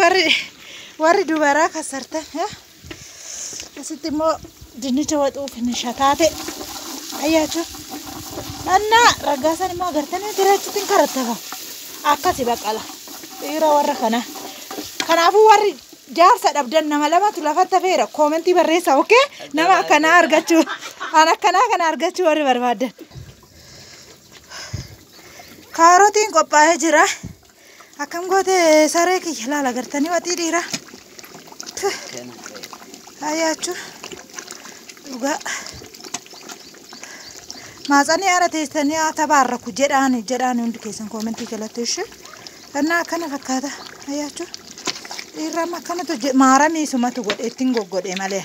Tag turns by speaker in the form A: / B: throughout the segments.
A: Warri warri dubaraa kasartan asitti immoo dinnicha waxuuf ni shataate ayyaachuu annaa raggaasan immoo agartanii garaachitti hin karattaba akkasi baqala dhiira warra kanaa kanaafuu warri jaarsa dhabdan nama lamatu lafatti hafeera koomentii barreessa okee nama akkanaa argachuu an akkanaa kana argachuu warri barbaaddan kaarotiin qophaa'ee jira. Akkam goote saree kiyya laala gartanii waxii dhiira. Haayyaachuu dhugaa. Maatsanii haadha teessanii haa tabaarraku jedhaani jedhaani hundi keessan koomentii jalatti ishee. Annaa akkana fakkaata haayyaachuu. Dhiirri amma akkanatu maaramii sumatu godhe ittiin goggodhe malee.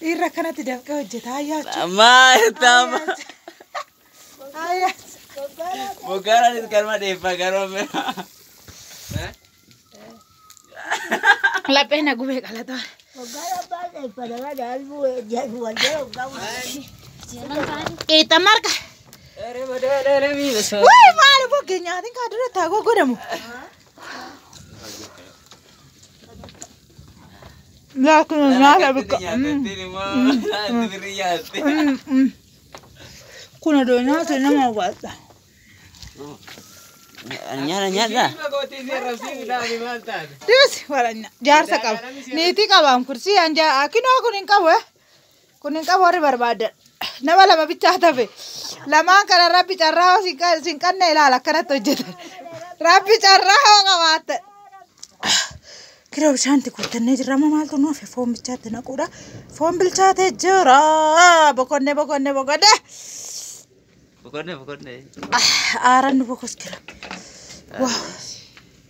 A: Dhiirri akkanatti dafqee hojjeta ayyaachuu. Maal taama? Ayyaachuu.
B: Boggaaraanis kanuma dheeffaa garuu amma.
A: Laphee na gubee qalataa. Qixa marga. Wayi maal boggee nyaatiin kaa dura taa goggodamu. Yaa kun nyaata bikka. Kun odoo nyaata nama hawwaata.
B: Nyaata nyaata.
A: Dees waranya jaarsa qaba. Niitii qabaan kursi anjaa akinoo kun hin qabu. kun hin qabu warri barbaaddan nama lama bichaa tafe lamaan kana rabbi carraa hoo sin qanne ilaala akkanatti hojjetan rabbi carraa hoo qabaatte kiroo bishaanti guuttannee jirra amma maaltu nu hafe foon bichaatti naquudha foon bilchaatee jira boqonnee boqonnee boqonnee Boqonnee boqonnee.
B: aaran
A: nu bokoskira waaw